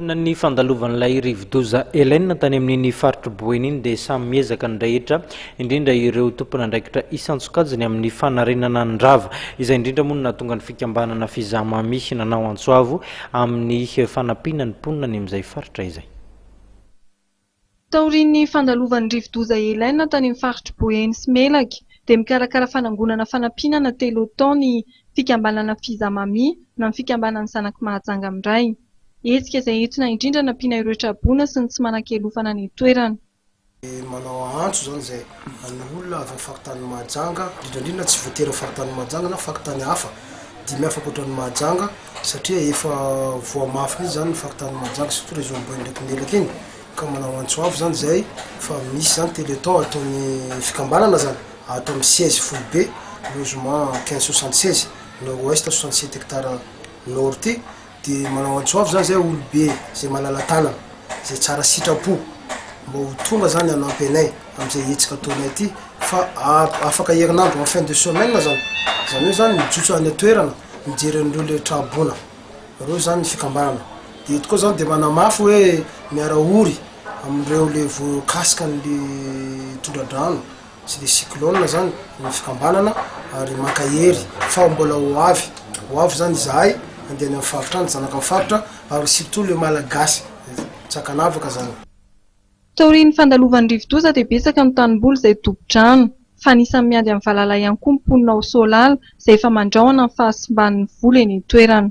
Taoriana ny fandalovan'ilay rivodoza Helene tany amin'iny faritr'i Boeny iny dia samy miezaka ny rehetra, indrindra ireo tompon'andraikitra isan-tsokajiny amin'ny fanarenana ny rava. Izay indrindra moa no nahatonga ny fikambanana Fizamami nanao antso avo amin'ny fanampiana ny mponina any amin'izay faritra izay. Taorian'ny fandalovan'ny rivodoza Helene tany amin'ny faritr'i Boeny sy Melaky dia mikarakara fanangonana fanampiana na Télothon ny fikambanana Fiza Mami na ny fikambanan'ny Zanak'i Mahajanga Miray. Hetsika izay entina indrindra hanampiana ireo traboina sy ny tsy manan-kialofana any an-toerana. Manao antso izany izay an'ny olona avy amin'ny faritany Mahajanga, indrindra indrindra tsy voatery amin'ny faritany Mahajanga na faritany hafa dimy hafa ankoatran'ny Mahajanga, satria efa voa mafy mihitsy zany ny faritany Mahajanga surtout le zone boeny ndraiky melaka iny ka manao antso avo zany zay fa misy zany teleton ataony fikambanana zany ato amin'ny siège foibe logement quinze soixante seize nord ouest soixante sept hectare nord ty de manao antso avo zany zay olobe zay malala tanana zay tsara sitrapo mba ho tonga zany hanampy anay am'izay hetsika ataonay ty fa afaka herinandro en fin de semaine zany zany hoe zany mijotso any an-toerana mijery an'ireo le tra-boina reo zany ny fikambanana de eto koa zany de manamafy hoe miara ory amin'ireo le voakasika an'le tondra-drano sy le cyclone zany ny fikambanana ary mankahery fa mbola ho avy ho avy zany izahay andeha any amin'ny faritra any zanaka amin'ny faritra ary surtout le malagasy tsy ankanavaka zany Taorian'ny fandalovan'ny rivodoza dia betsaka ny tanimboly izay tobi-drano, fa anisan'ny miady amin'ny valala ihany koa ny mponina ao Soalala izay efa mandrahona ny fahasimban'ny voly eny an-toerana.